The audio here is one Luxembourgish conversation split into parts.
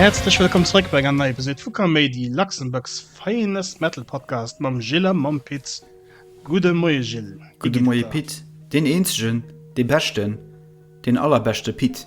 Häerzlech wëllkomm zréck bei engem nei Episode vu Kaméidi, Luxembourg's finest metal podcast mam Gilles a mam Pit. Gudde Moie Gilles, wéi Gudde geet et Moie der? Pit, deen eenzegen, dee beschten, deen allerbeschte Pit.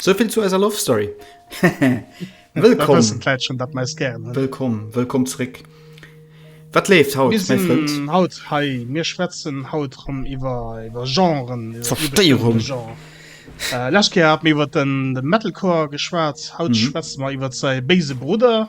Souvill zu eiser Love Story. Wëllkomm Wëllkomm zréck. Wat leeft haut? Mir sinn haut hei, mir schwätzen haut rëm iwwer iwwer Genren, iwwer Zerstéierung, iwwer Genre. Lescht Kéier hat mir iwwer de Metalcore geschwat, haut schwätze mer iwwer säi béise Brudder.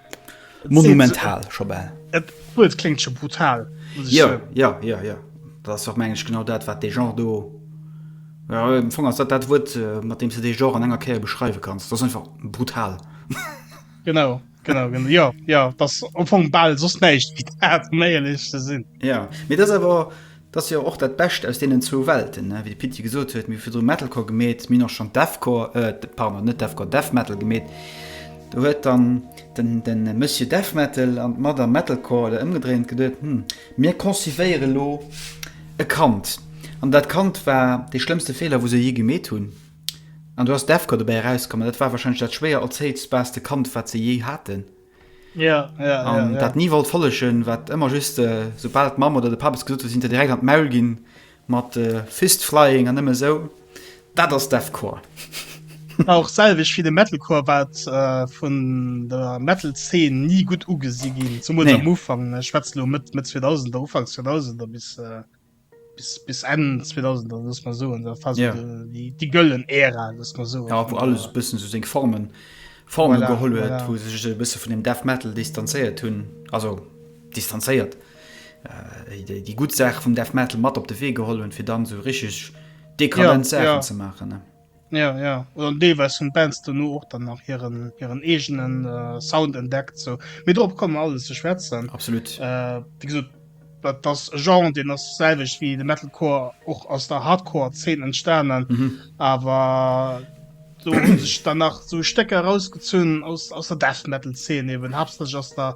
Monumental scho bal. Et et kléngt scho brutal, muss ech soen. Jo, jo, jo, jo. Dat ass och, mengen ech, genau dat, wat dee Genre do, jo, am Fong ass dat dat Wuert, mat deem s de dee Genre an enger Kéier beschreiwe kanns. Dat ass einfach brutal. Genau, genau, genau. Jo, jo, dat ass am Fong bal soss näischt wéi dat, ëm éierlech ze sinn. Jo, mee dat ass awer. 't ass jo och dat Bescht aus deenen zwou Welten, ne? Wéi de Pit jo gesot huet, mir hu virdru Metalcore gemeet, mir hunn och schonn Deathcore, pardon, net Deathcore, Death Metal gemeet. Do huet dann de Monsieur Death Metal an d'Madame Metalcore oder ëmgedréint an geduet, Hm, mir concipéieren elo e Kand. An dat Kand war dee schlëmmste Feeler, wou se jee gemeet hunn. An do ass Deathcore dobäi erauskomm. An dat war warscheinlech dat schwéier erzéiltbaarste Kand, wat se jee haten. Ja, ja, ja, ja. dat nie wollt follegen, wat ëmmer just äh, soubal d'Mamm oder de Papes gesot huet, sinn der direkt an d'Maul ginn mat äh, Fistflying an nëmme sou. Dat ass Deathcore. War och selwech wéi de Metalcore, wat äh, vun der Metal-Zeen ni gutt ugesi ginn, zumools Nee. am Ufank. Ech schwätze lo Mëtt Mëtt 2000er, Ufanks 2000er bis. Äh, bis, bis Ende 2000 dann lass mal so da fast ja. die, die göllen Ära lass mal so ja, wo alles ein bisschen so sing Formen Formen voilà, geholt voilà. wo sich ein bisschen von dem Death metal distanziert tun also distanziert äh, die, die gut Sache vom Death metal matt op de Wee geholt und für dann so richtig dekadent ja, Sachen ja. zu machen ne? Ja, ja. Oder deelweis hunn d'Bands dono och dann nach hiren, hiren eegene Sound entdeckt. Sou, mee dorop komme mer alles ze schwätzen. Absolut. Wéi gesot, dat ass e Genre, deen ass selwecht wéi de Metalcore och aus der Hardcore-Zeen entstanen. Awer do hu sech dann nach sou Stécker erausgezunn aus, aus der Death-Metal-Zeen, eeben haaptsächlech aus der.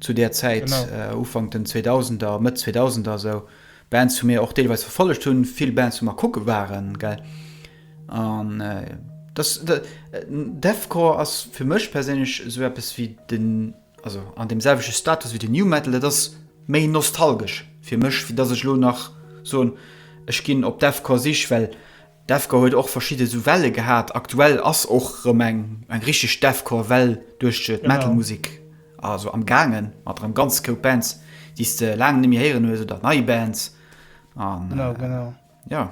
Zu där Zäit, Ufank den Zweedausender, Mëtt Zweedausender esou, Bands hu mir och deelweis verfollegt hunn, vill Bands wou mer kucke waren, gell. An dass Deathcore ass fir mech perséinlech esou eppes wéi den, also an deem selwechte Status wéi den New Metal, dat ass méi nostalgesch fir mech, wéi dass ech elo nach soen, ech ginn op Deathcore Sich, well D'Devcore huet och verschidde sou Welle gehat. Aktuell ass och rëm eng richteg Devcore Well duerch d'Metalmusek also am gaangen, mat rëm ganz Koup Bands déi s de laang neméi héieren hues oder nei Bands an jo.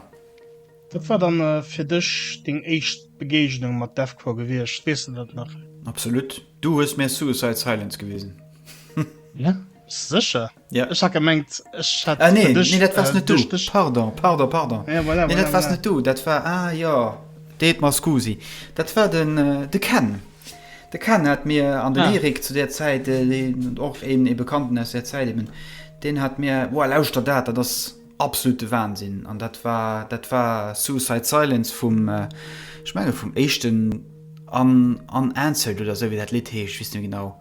Wat war dann fir dech deng éischt Begeegnung mat Devcore gewiescht? Weess de dat nach? Absolut, du hues mir Suicide Silence gewisen. Bist du secher? Ja. Ech hat gemengt ech hat Ah nee, nee dat waars net du. Pardon, pardon, pardon. Ja, voilà, nee, dat voilà, waars voilà. net du, dat war ah jo, deet mer scusi. Dat war den de Ken. De Ken hat mir an den ah. Erik zu der Zäit den och een e Bekannten aus der Zäit eben, den hat mir woa lauschter dat, dat ass absolute Wahnsinn an dat war dat war Suicide Silence vum äh, ich menge vum echten an an Anzelt oder so wie dat Lied heescht, wis du genau.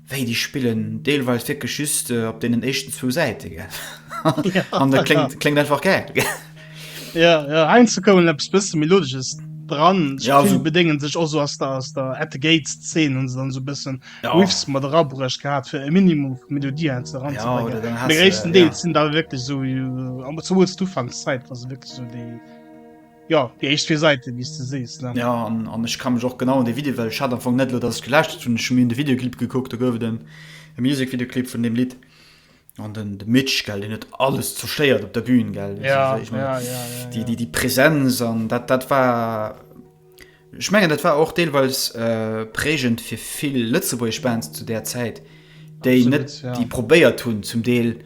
Wéi déi spillen deelweis wierklech just op deenen éischten zwou Säite gell. An dat kléngt, kléngt einfach gäil. Ja, ja heiansdo kommen eppes bësse Melodesches dran. Ich Ja, ja, also- bedéngen sech och so ass der ass der At the Gates 10 hun se dann so bëssen Ja. ja. Riffs mat erabruecht gehabt fir e Minimum vu Melodie Ja, oder dann ranzebringen. hast De du, gréissten ja. Deel sinn da wirklich so äh, am- zumools d'Ufankszäit was wirklich so déi Jo, déi éischt zwee Säiten, wéi s de sees, ne? Jo, an ech ka mech och genau un dee Video, well ech hat am Fong net elo, datt ech gelauschtert hunn, ech hu mir de Videoclip gekuckt, do gouf et en Music-Videoclip vun deem Lidd. An den de Mitch, gell, deen huet alles zerstéiert op der Bühn, gell, déi Präsenz an dat, dat war. Ech mengen dat war och deelweis prägend fir vill lëtzebuergesch Bands zu där Zäit, déi net déi probéiert hunn zum Deel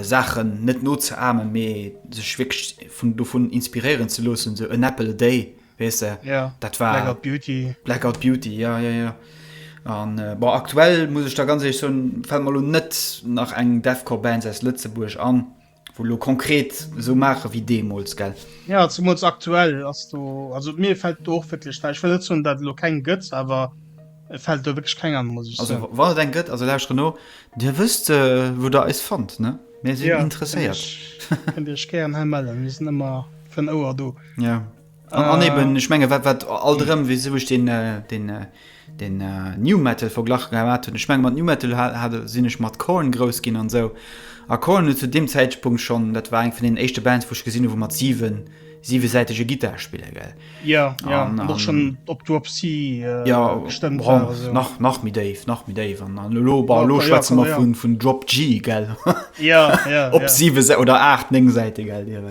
Saachen net nozeamen, mee sech wierklech vun dovun inspiréieren ze loossen, sou An Apple a Day, weess de, dat war Blackout Beauty, Blackout Beauty, jo jo jo. An bon, aktuell muss ech der ganz éierlech soen, fält mer elo net nach eng Deathcore Band aus Lëtzebuerg an. Wou elo konkret esou maache wéi deemools, gell? Jo, zemools aktuell ass do, also mir fält do och wierklech näischt. Ech wëll net soen, datt et elo keng gëtt, awer et fält do wierklech keng an, muss ech soen. Also wann et eng gëtt, also lauschteren no, Dir wësst, wou Der eis fannt, ne? Mir sinn interesséiert. Jo, kënnt Dir Iech gären hei mellen, mir sinn ëmmer fir en Ouer do. Jo. An, an eben, ech menge wat, wat all drëm, wéi sou ech den, äh, den, äh, den äh, New Metal verglach gehat hunn. Ech menge mat New Metal ha, hat, sinn ech mat Korn grouss ginn an sou. A Korn huet zu deem Zäitpunkt schonn, dat war eng vun den éischte Bands, wou ech gesinn hu wou mat siwen, siwesäitege Gittar spille, gell. Ja, ja, an och schonn op Dropsy, äh, ja, gestëmmt bon, war. Sou. Nach, nach méi déif, nach méi déif. An, an elo, bon, elo schwätze mer vun, vun Drop G, gell. Ja, ja. op ja. siwe oder aacht, néng Säite, gell,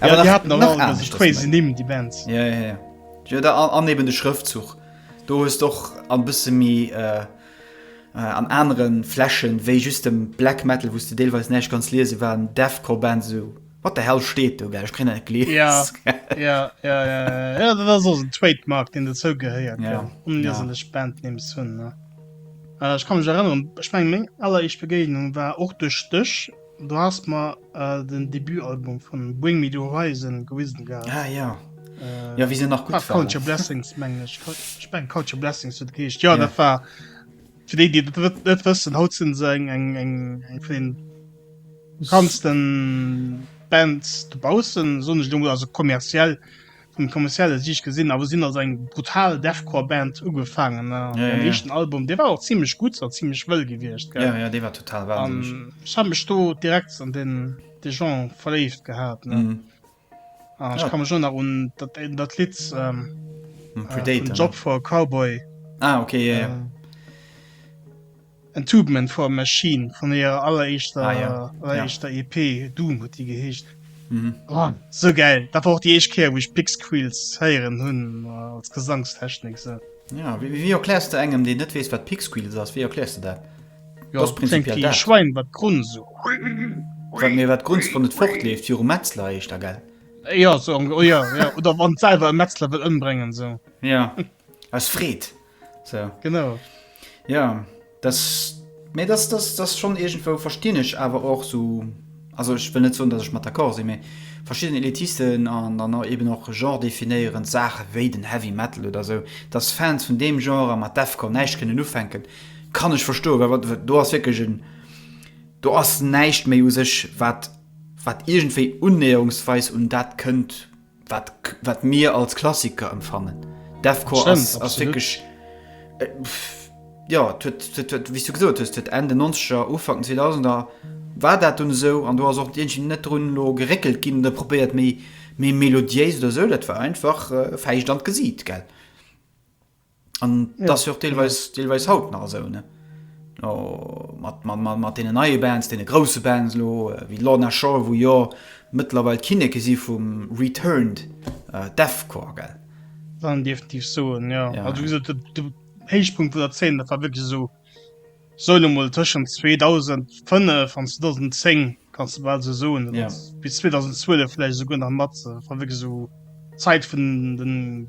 Awer ja, hat nach crazy ni die Bands ja, ja, ja. Ja, da, an eben de Schrëftzug do hues doch an bësse mi äh, äh, an anderen Fläschen wéi just dem Black Metal wusste deelweis näicht ganz lese waren Defco Band so wat der hell steet du ge ich kenne kle ja, ja, ja, ja, ja, das so ein Trademark den dazu geheiert ja. ja. um ja. Band ni hun äh, ich kann mich erinnern ich mein, aller ich Begegnung war och durch Stöch Do has mer den Debutalbum vun Bring Me The Horizon gewisen gehat. Ah jo, jo wéi se nach gutt waren. War Count Your Blessings mengen ech, ech mengen Count Your Blessings huet et geheescht. Jo dat war, fir déi déi dat net wëssen, haut sinn se eng eng eng eng vun den bekanntsten Bands dobaussen, soen ech elo mol, also kommerziell. Vun kommerzielle Siicht gesinn awer sinn als eng brutal Deathcore Band ugefaangen an hiren éischten Album dee war och zimlech gutt a zimlech wëll gewiescht gell an ech hat mech do direkt an den de Genre verléift gehat ne an ech ka mech och nach un dat een dat Lidd Job for a Cowboy ah ok yeah yeah Entombment for a Machine vun hirer alleréischter EP, Doom huet déi geheescht. Sou gäil! Dat war och déi éischt Kéier, wou ech Pixqueals héieren hunn als Gesangstechnik. Wéi erkläers de engem, deen net weess, wat Pixqueals ass, wéi erkläers de dat? Dat kléngt wéi e Schwäin, wat grunzt. Mee wat grunzt, wann et fortleeft? Virum Metzler heescht dat, gell? Jo, oder wann et selwer e Metzler wëll ëmbréngen. Aus Freed. So. Genau. Ja, das, nee, das, das, das schon irgendwo verstehen ich aber auch so, also ich will nicht so, dass ich mal d'accord sind, mais verschiedene Elitisten an dann auch eben auch Genre definieren, Sachen wie den Heavy Metal oder so, dass Fans von dem Genre mit Deathcore nicht können aufhängen, kann ich verstehen, weil du hast wirklich ein, du hast nicht mehr aus sich, was, was irgendwie unnäherungsweise und das könnt. wat wat mir als Klassiker empfannen. Defcor ass ass wirklich äh, ja wie du gesot hues huet Ende 90er Ufang 2000er war dat un sou an du ass och Dichen net run lo geréckelt ginn der probéiert méi méi melodiéis oder sou dat war einfach äh, fäicht an d'Gesiit gell. An ja, das jo deelweis ja. deelweis haut nach esou ne oh, mat, mat, mat, mat den neue Bands, den grosse Bands lo äh, wie Lorna Shore, wo jo mëttlerweil Kinneke si vum Returned äh, Deathcore gell. Dann definitiv so ja. ja. Also, de, de Héichpunkt vu der 10 dat war wirklich so soll mal tschen 2005 van 2010 kannst du bald so so ja. bis 2012 vielleicht so nach mat war wirklich so Zeit vun den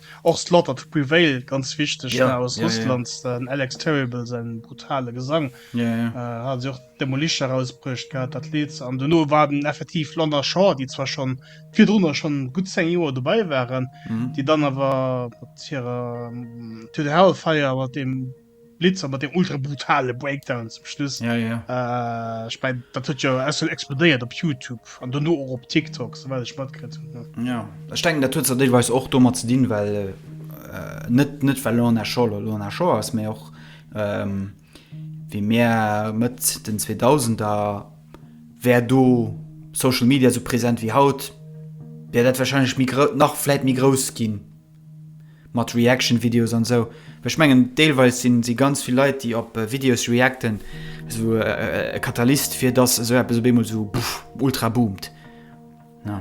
Och Slaughter to Prevail ganz wichteg yeah, aus yeah, Russland yeah. den Alex Terrible se brutale Gesang yeah, yeah. Äh, hat och Demolition herausbrucht gehabt dat Lied an du no war den effektiv London Shaw die zwar schon vier drunner schon gut 10 Joer dabei waren mm -hmm. die dann aber ihrer ähm, to the Hellfire aber dem Blitzer mat der ultra brutale Breakdown zum Schluss ja, ja. Äh, ich mein, dat huet jo ja explodéiert op Youtube an duno och op TikTok soweit ich matkrit hun. Ja Ech denken dat huet ze deelweis och dommer ze dinn, well äh, net net well Lorna Shaw Lorna Shaw ass méi och ähm, wéi Meer Mëtt den 2000er wär do Social Media so präsent wéi haut, wär dat wahrscheinlech mi nach vläit méi grouss ginn. Mat Reaction Videos an sou. Ech mengen deelweis sinn si ganz vill Leit déi op Videos reacten sou e Katalyst fir dass sou eppes op eemol sou buff ultra boomt ne.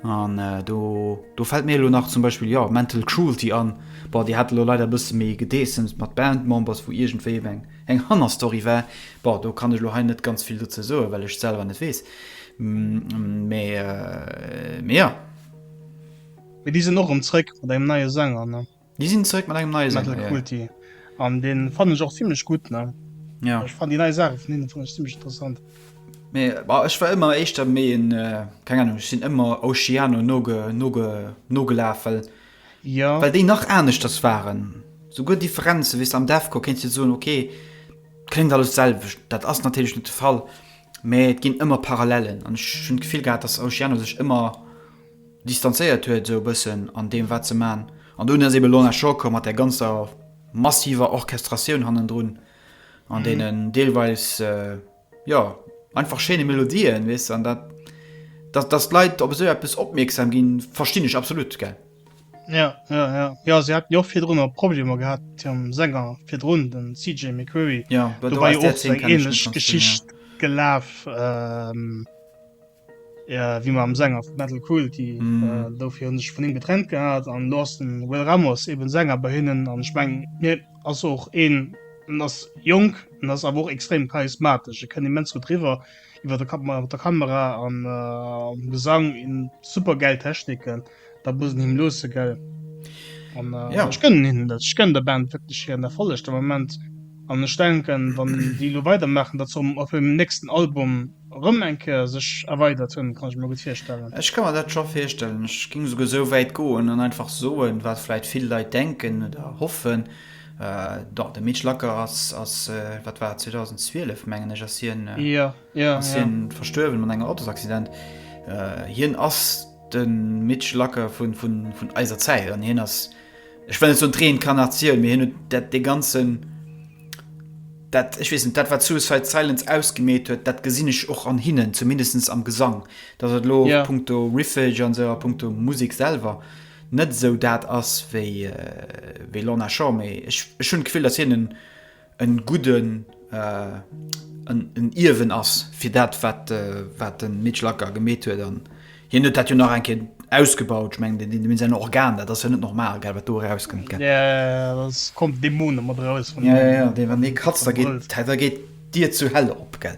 An do do fällt mir elo nach zum Beispill jo Mental Cruelty an, bon déi hat elo leider e bësse méi gedeessemt mat Band Members wou iergendwéi ebe eng eng Hannerstory war. Bon do kann ech elo hei net ganz vill dozou soen well ech et selwer net weess mee mee jo. Mee déi sinn och erëm zréck mat engem neie Sänger, ne? Déi sinn zréck mat engem neie Sänger, ja. Metal Kulti. An deen fannen ech och zimlech gutt, ne? Ja. Ech fannen déi nei Saache vun hinnen fannen ech zimlech interessant. Mee, bah, ech war ëmmer éischter méi en, keng Ahnung, ech sinn ëmmer Oceano noge, noge, nogelaf, well, Ja. well déi nach aneschters waren. Souguer Differenzen, weess de, am Deathcore kéints de soen, ok, kléngt alles d'selwecht. Dat ass natierlech net de Fall, mee et ginn ëmmer Parallellen. An ech hunn d'Gefill gehat, dass Oceano sech ëmmer. distanzéiert huet esou e bëssen an deem wat se man an dunn ass eben Lorna Shore komm mat där ganzer massiver Orchestratioun hannendrun an deenen deelweis jo einfach schéine Melodien weess an dat dat dass d'Leit op esou eppes opmierksam ginn verstinn ech absolut gell. Jo jo jo jo se haten jo och virdrun emmer Problemer gehat mat hirem Sänger virdrun den CJ McCreery jo do war jo och eng ähnlech Geschicht gelaf. Wéi mer am Sänger vu Metal Cruelty do fir hunn sech vun him getrennt gehat an elo ass den Will Ramos eben Sänger bei hinnen an ech mengen hien ass och een, en ass jonk, en ass awer och extrem charismatesch, e kënnt immens gutt riwwer iwwer der Kamera an am Gesang, en huet supergäil Techniken. Dat muss en him loossen, gell? An ech gënnen hinnen dat. Ech gënnen der Band wierklech hiren Erfolleg de Moment. An ech denken, wann déi elo weidermaachen, datt se op hirem nächsten Album erëm eng Kéier sech erweidert hunn. Kann ech mir gutt virstellen. Ech ka mer dat scho virstellen. Ech géing esouguer esou wäit goen an einfach soen, wat vläicht vill Leit denken oder hoffen, Jo, de Mitch Lacker ass, wat war et, 2012 mengen ech ass hien verstuerwen an engem Autosaccident. Hien ass. De Mitch Lacker vun eiser Zäit an hien ass, ech wëll net soen d'Reincarnatioun, mee hien huet dat dee ganzen, dat, ech weess net, dat wat Suicide Silence ausgemeet huet, dat gesinn ech och an hinnen, zumindest am Gesang. Datt et elo punkto Riffage an esou a punkto Musek selwer net esou dat ass wéi Lorna Shore, mee ech hunn d'Gefill, datt hien en, en gudden en Ierwen ass fir dat wat wat den Mitch Lacker gemeet huet an hien huet dat jo nach eng Kéier ausgebaut. Ech mengen deen deen säin Organ dat ass jo net normal gell wat do erauskënnt gell. Et kommen Dämonen mat eraus vun engem. Jo jo jo deen wann dee kratzt da geet d'Dier zur Hell op gell.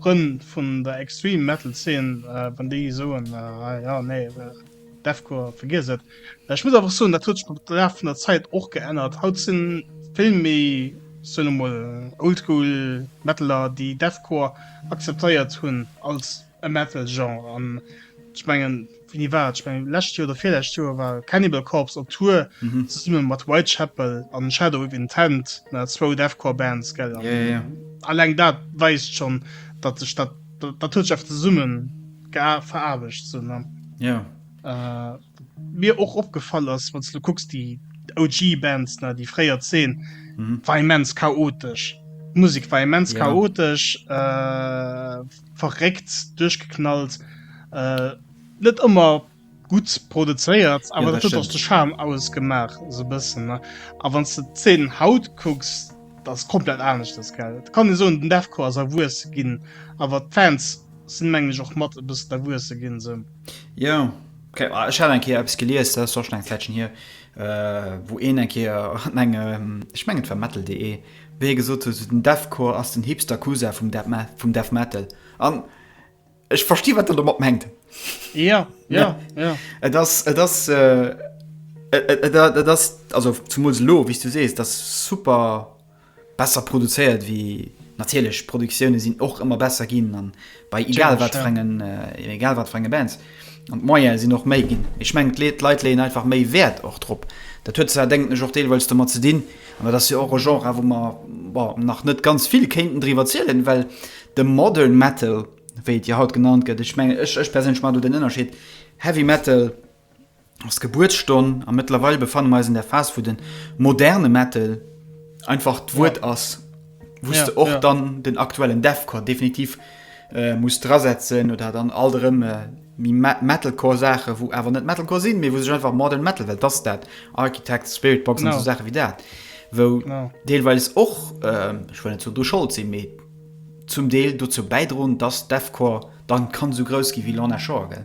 Frënn vun der Extreme Metal Zeen, wann déi soen, ah jo, nee, Deathcore, vergiess et. Ech muss einfach soen, dat huet sech mat dem Laf vun der Zäit och geännert. Haut sinn vill méi, soen ech mol, Oldschool Metaler, déi Deathcore akzeptéiert hunn als e Metal-Genre. An ech mengen. Wéini war et? Ech mengen lescht Joer oder virlescht Joer war Cannibal Corpse op Tour zesumme mat Whitechapel an Shadow of Intent, na zwou Deathcore Bands gell, an alleng dat weist schonn datt sech dat, dat huet sech einfach zesumme veraarbecht sou ne. Wat mir och opgefall ass, wann s de kucks déi OG Bands, na déi fréier, d'Zeen war immens chaotesch, d'Musek war immens chaotesch. verréckt duerchgeknallt äh net ëmmer gutt produzéiert awer dat huet och de Charme ausgemaach esou bëssen ne a wann s de d'Szenen haut kucks dat ass komplett aneschters gell et kann ee soen den Defco ass erwuesse ginn awer d'Fans sinn mengen ech och mat e bëssen erwuesse ginn se jo keng ah ech hat eng Kéier eppes gelies dat ass och schonn eng Zäitchen hier wou een eng Kéier an engem ech mengen et war metal.de Wéi hie gesot huet, den Deathcore ass den hipster Cousin vum Death Metal. An ech versti wat en domat mengt. Jo, jo, jo. Et ass, et ass, et ass, also zemools elo, wéi s du sees, et ass super besser produzéiert wéi, natierlech, d'Produktioune sinn och ëmmer besser ginn an Bei egal wat fir engen, egal wat fir enge Bands. An d'Moyene sinn och méi ginn. Ech mengen d'Leit leeën einfach méi Wäert och drop. Dat huet zwar, denken ech, och deelweis domat ze dinn, an dat ass jo och e Genre wou mer, bon, nach net ganz vill kéinten driwwer zielen, well de Modern Metal, wéi et jo haut genannt gëtt, ech mengen, ech perséinlech maachen do den Ënnerscheed, Heavy Metal, ass d'Gebuertsstonn a mëttlerweil befanne mer eis an der Phas, wou de moderne Metal einfach d'Wuert ja. ass, wou ja, du och ja. dann den aktuellen Deathcore definitiv äh, muss drasetzen oder dann all erëm äh, Metalcore Sache wo awer net Metalcore sinn mir wo sech einfach modern Metal well das dat Architect Spiritbox no. so Sache wie dat wo no. deelweis och ähm, ich will zu du Schul sinn me zum Deel du zu beidroen dass Defcore dann kann so groß gi wie Lana Schorgel.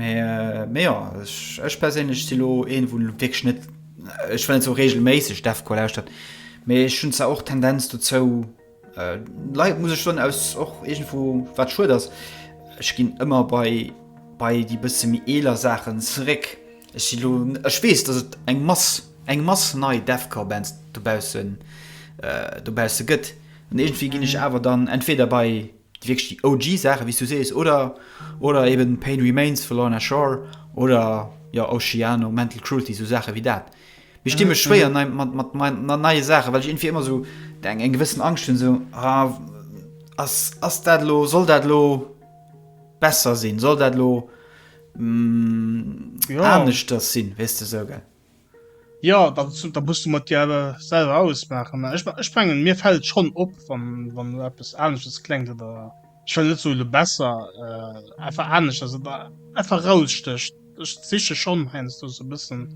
Mä jo, ech perséinlech si lo een, wou wierklech net, ech wëll net sou reegelméisseg Deathcore lauschtert, mee ech hunn zwar och d'Tendenz dozou, lei-, muss ech soen, aus och iergendwou, wat schued ass, ech ginn ëmmer bei, bei déi bësse méi eeler Saachen zeréck. Ech si lo, ech weess, datt et eng Mass, eng Mass nei Deathcore-Bands dobaussen, dobausse gëtt an iergendwéi ginn ech awer dann entweder bei Wierklech déi OG Saachen, wéi s du sees, oder oder eben Pain Remains vu Lorna Shore oder jo Oceano, Mental Cruelty, esou Saache wéi dat. Mee ech di mech schwéier nei mat mat mei nei neie Saachen, well ech iergendwéi ëmmer esou eng eng gewëssen Angscht hunn, esou ah ass ass dat elo, soll dat elo besser sinn, soll dat elo aneschters sinn, weess de esou, gell. Ja, da muss du mat dir awer selwer ausmaachen. Ech mengen mir fält schon op, wann du eppes anesches klengt oder ech well net sou de besser effer äh, anesch ass oder effer rausstécht. Ech siche schon heiansdo do sou bëssen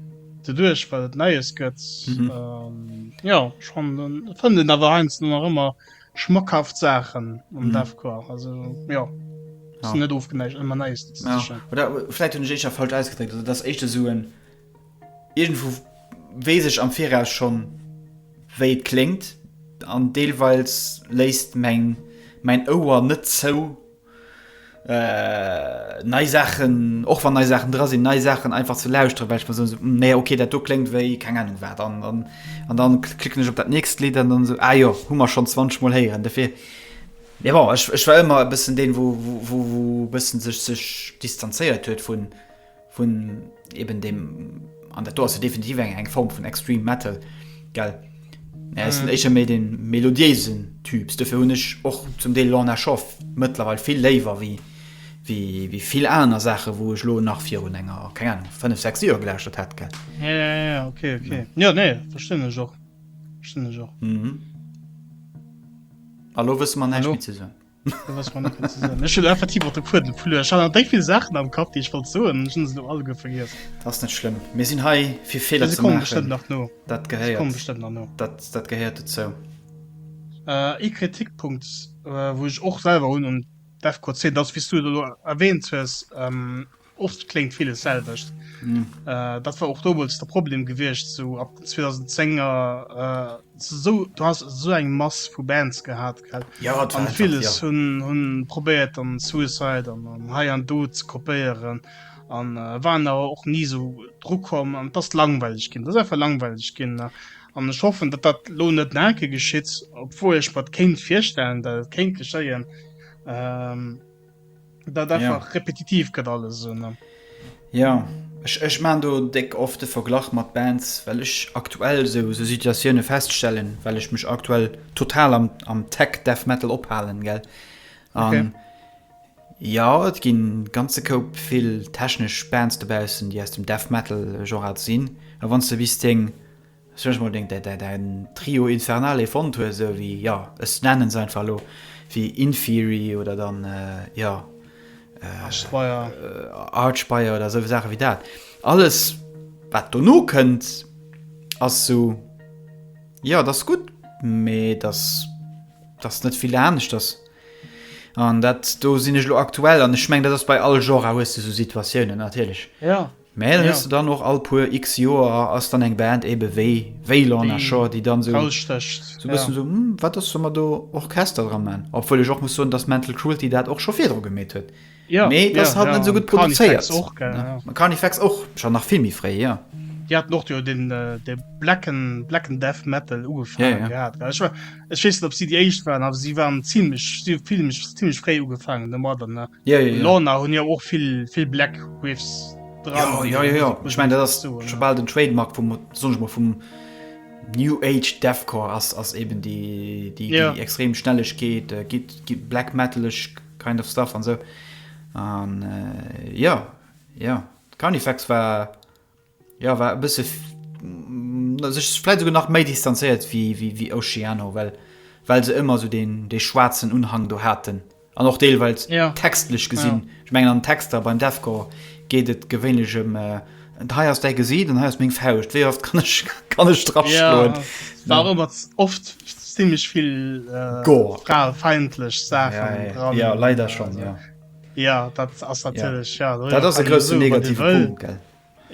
de duerch, well et Neies gëtt. Mhm. Ähm, ja, schon fënn den awer heiansdo nach ëmmer schmackhaft Saachen um mhm. Deathcore. Also ja. Ja. net ofgeneigt ëmmer Neies ze sichen. Ja. Oder vläit hunn ech éischer falsch ausgedréckt, also dass éischte suen. So Iergendwou weess ech am Viraus schonn, wéi et kléngt, an deelweils léisst mäin Ouer net zou, nei Saachen, och wann nei Saachen dra sinn, nei Saachen einfach ze lauschteren, well ech mer soen, Hm, nee, ok, dat do kléngt wéi keng Anung wat. An da klicken ech op dat nächst Lidd an dann esou, Ah jo, hu mer schonn zwanzeg Mol héieren. Dofir, mee bon, ech war ëmmer e bëssen deen, wou e bësse sech distanzéiert huet vun. Vun eben deem, an dat do ass jo definitiv eng Form vun Extreme Metal, gell? Mä ech sinn éischer méi de melodiéisen Typs. Dofir hunn ech och zum Deel Lorna Shore mëttlerweil vill léiwer wéi vill aner Saachen, wou ech elo nach virun enger, keng Anung, fënnef, sechs Joer gelauschtert hätt, gell? Ja, ja, ja, ja, ok, ok. Jo, nee, verstinn ech och. Verstinn ech och. A lo wësse mer näischt méi ze soen. Ech hunn effektiv och de Fuedem verluer. Ech hat nach déi vill Saachen am Kapp, déi ech wollt soen, ech hunn se elo alleguer vergiess. Dat ass net schlëmm. Mir sinn hei, fir Feeler ze maachen. Si kommen bestëmmt nach no. Dat gehéiert. Si kommen bestëmmt nach no. Dat, dat gehéiert dozou. Ee Kritikpunkt, wou ech och selwer hunn un Defqor 10, dat ass, wéi s du et elo erwähnt hues, Oft kléngt villes d'selwecht. Dat war och domols de Problem gewiescht, sou ab den 2010 er. Esou, du has esou eng Mass vu Bands gehat, gell? Ja, et war einfach, jo. An villes hunn, hunn probéiert an Suicide an an hei an do ze kopéieren an waren awer och ni esou dru komm an et ass langweileg ginn. Et ass einfach langweileg ginn an ech hoffen, datt dat elo net nach eng Kéier geschitt, obwuel ech mer et kéint virstellen, datt et kéint geschéien. dat einfach ja. repetitiv gëtt alles so, ne? Ja ech, ech man do deck oft de Verglach mat Bands, well ech aktuell se se Situatioune feststellen, well ech mech aktuell total am, am Tech Death Metal ophalen gell. Okay. Um, Ja et ginn ganze Koup vill technesch Bands dobausen, déi aus dem Death Metal Genre sinn. A wann ze bis deng Ech wënschen mer unbedéngt dat dat en Trio Infernale fonnt huet esou ewéi jo ech nennen se einfach elo ewéi Infeary oder dann jo Archspire oder esou Saache ewéi dat. Alles wat dono kënnt ass esou jo et ass gutt mee et ass et ass net vill aneschters an dat do sinn ech elo aktuell an ech mengen dat ass bei all Genre hues de esou Situatiounen natierlech. Mä dann hues de dann och all puer x Joer ass dann eng Band ebe wéi Waylon a Shore, déi dann esou e bëssen esou, hm, wat ass, solle mer do Orchester dra man? Obwuel ech och muss soen, datt Mental Cruelty dat och scho virdru gemeet huet, mä et ass halt net esou gutt produzéiert. An Carnifex och scho nach vill méi fréi, jo. Déi haten och jo dee blacken Death Metal ugefaange gehat. Ech weess net op si déi éischt waren, awer si waren zimlech, si hu vill méch zimlech fréi ugefaangen domadder ne. Ja ja ja. Lorna hunn jo och vill vill Black Whiffs dran. Jo jo jo jo, ech mengen dat ass scho bal den Trademark vum soen ech mol vum New Age Deathcore ass ass eben déi déi déi yeah. extrem Schnellegkeet, äh, gitt gitt Black Metaleg kind of stuff an sou. An äh, jo jo, Carnifex war Jo war e bësse sech vläit souguer nach méi distanzéiert wéi Oceano, well well se ëmmer sou deen dee schwaarzen Unhang do haten an och deelweils textlech gesinn. Ech mengen an den Texter beim Deathcore geet et gewéinlech ëm hei ass däi Gesiit an hei ass meng Fauscht, wéi oft kann ech kann ech drop schloen? Et war ëmmer oft zimlech vill gore, fraefeindlech Saachen dran. Jo leider schonn, jo. Ja dat ass natierlech ja, ja dat ass e groussen negative Punkt gell.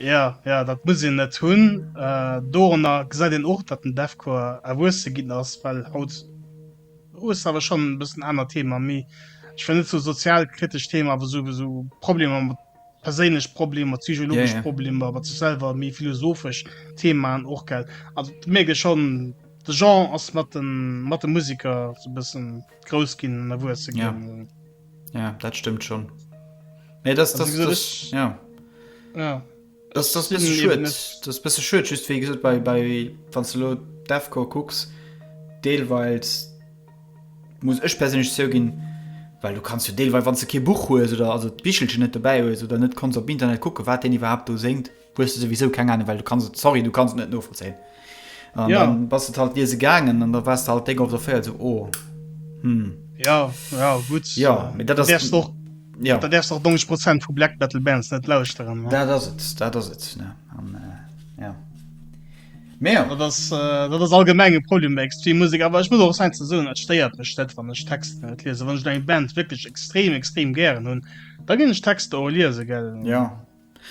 Ja ja dat muss een net hunn. Äh, Dorenner gesäit een och, datt den Deathcore erwuesse ginn ass, well haut oh, ass awer schon bëssen aner Thema méi ich fan net so sozialkritesch Thema awer so so Problemer mat perséinlech Problemer, psychologisch yeah, yeah. Problemer, awer ze selwer méi philosophesch Themen och gell. Also mege schon de Jean ass mat den mat de Musiker so bëssen grouss ginn erwuesse ginn. Yeah. Ja, dat stëmmt schon. Nee, das, das, also, das, das, ja. Ja. Das, das, das, das bist schön just wie gesagt, bei, bei van Defco cooks Deelweils muss ech persönlich so gehen weil du kannst du Deelweil wann du kein Buch hues oder also Bichelchen net dabei hues oder net kannst op Internet gucken wat den überhaupt du senkt. Hues de souwisou keng Ahnung, well du kanns et, sorry, du kanns et net novollzéien. An Ja. dann bass et halt liese gaangen an da wars de halt déck op der Féier so, oh, hm, Ja, ja, gutt. ja, mee dat Du ass, däerfst och, ja, da däerfst och 90 Prozent vu Black Metal Bands net lauschteren. Ne? dat ass et, dat ass et, ne, an, äh, ja. Mee ja, Dat ass, äh, dat ass allgemeng e Problem bei extrem Musek. Awer ech muss och säin ze soen, et stéiert mech net, wann ech Texter net liesen. Wann ech eng Band wierklech extrem, extrem gären hunn, da ginn ech Texter och liese, gell. ja,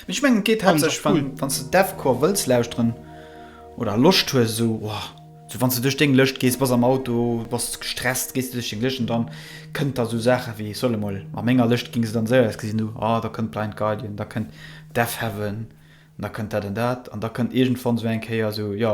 Mee ech mengen et geet haaptsächlech wann cool. Wanns de Deathcore wëlls lauschteren oder Loscht hues esou oh esou wanns de duerch deng Lëscht gees, bass am Auto, bass gestresst, gees de duerch deng Lëscht an dann kënnt da esou Saache wéi, ech soll emol a menger Lëscht ginn se dann esou ausgesinn hu, oh da kënnt Blind Guardian, da kënnt Deafheaven, da kënnt dat an dat an da kënnt iergendwann esou eng Kéier esou jo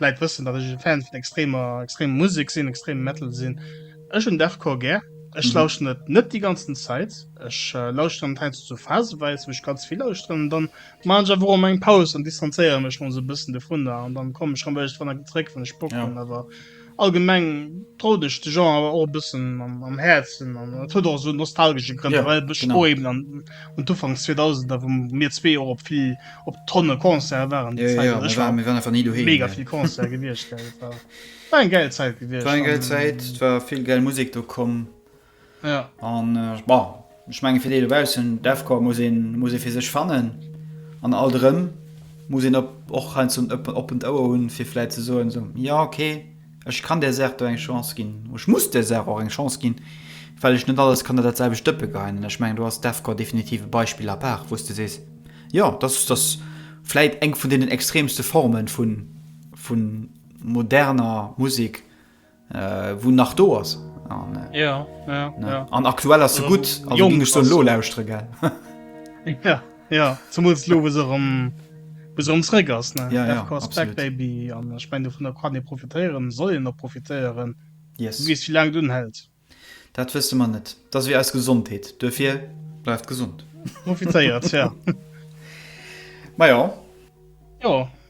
D'Läit wëssen dat ech e Fan vun extremer extremer Musek sinn, extreme Metal sinn. Ech hunn Deathcore gär. Ech lauschteren et net déi ganzen Zäit. Ech lauschteren et heiansdo sou phaseweis, wou ech ganz vill lauschteren an dann maachen ech einfach och emol eng Paus an distanzéieren mech mol sou e bëssen dovunner an dann kommen ech rëm iergendwann erëm zréck wann ech Bock hunn. Awer allgemeng drout ech de Genre awer och e bëssen am Häerzen an et huet och sou nostalgesche Grënn, well ech och eben un d'Ufanks 2000er wou mir zwee och op vill op tonne Concerte waren déi Zäit, also ech war mega vill Concerte gewiescht, war eng gäil Zäit gewiescht, war eng gäil Zäit, et war vill gäil Musek do komm an bon ech menge fir déi dobaussen Deathcore muss een muss ee fir sech fannen an alt erëm muss een op och heiansdo en oppent Ouer hunn fir vläit ze soen esou, jo ok. Ech kann där Saach do eng Chance ginn. Ech muss där Saach och eng Chance ginn, well ech net alles kann an dat selwecht Dëppe geheien. An ech mengen, do ass d'AFCOR definitiv e Beispill à part, wou s de sees, jo, dass dass vläit eng vun deenen extremste Forme vu moderner Musek, wou nach do ass. An aktuell ass se gutt, also géing ech se elo lauschtere. Ja zumools lo wou se erëm wou se erëms réck ass ne? Ja, ja, FK ass back absolut. baby an ech mein dovunner kann ee profitéieren, soll een och profitéieren. Du Yes. weess wéi laang et unhält. Dat wësse mer net. Dat ass ewéi eis Gesondheet. Duerfir bleift gesond. Profitéiert ja. Majo. Jo.